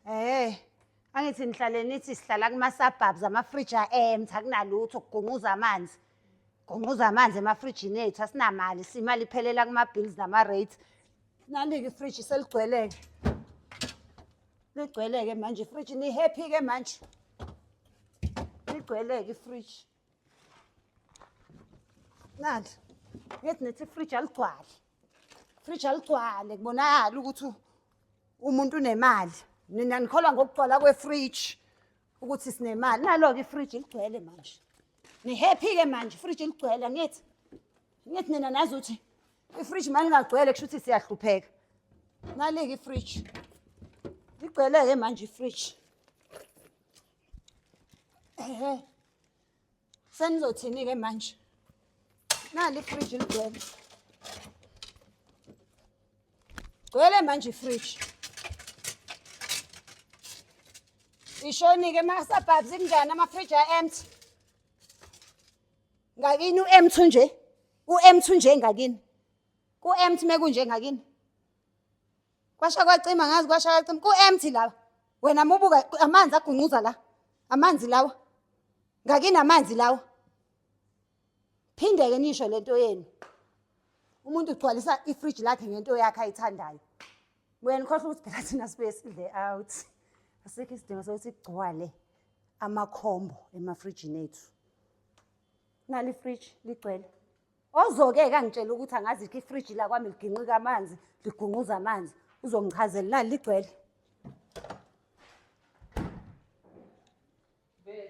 Eh, angithi nihlale nithi sihlala kuma-suburbs amafriji a-empty akunalutho kugunquza amanzi. Gunquza amanzi emafrijini ethu asinamali, simali iphelela kuma-bills nama-rates. Nalike ifriji seligcweleke. Ligcweleke manje ifriji, ni-happy-ke manje. Ligcweleke ifriji. nani ngithi nethi ifriji aligcwale ifriji aligcwale kubonakala ukuthi umuntu unemali nina nikholwa ngokugcwala kwefriji ukuthi sinemali nalo-ke ifriji ligcwele manje nihappy-ke manje ifriji ligcwele ngithi ngithi nina nazi ukuthi ifriji mali ingagcwele kusho ukuthi siyahlupheka nalike ifriji ligcwele-ke manje ifriji Ehe. Senizothini ke manje? Nali fridge ligcwele. Gcwele manje fridge. Ishoni ke ma suburbs kunjani ama fridge a empty. Ngakini u empty nje. U empty nje ngakini. Ku empty mekunje ngakini. Kwasha kwacima ngazi kwasha kwacima ku empty laba. Wena mubuka amanzi agunquza la. Amanzi lawa. Ngakini amanzi lawa. Phindeke nisho lento yenu. Umuntu ugcwalisa ifridge lakhe ngento yakhe ayithandayo. Wena khohlwa ukuthi phela thina sibuye sidle out. Asikho isidingo sokuthi kugcwale amakhombo emafrijini ethu. Nali fridge ligcwele. Ozoke-ke angitshela ukuthi angazikho ifriji lakwami liginqika amanzi, ligunquza amanzi. Uzongichazela nali ligcwele. Vele.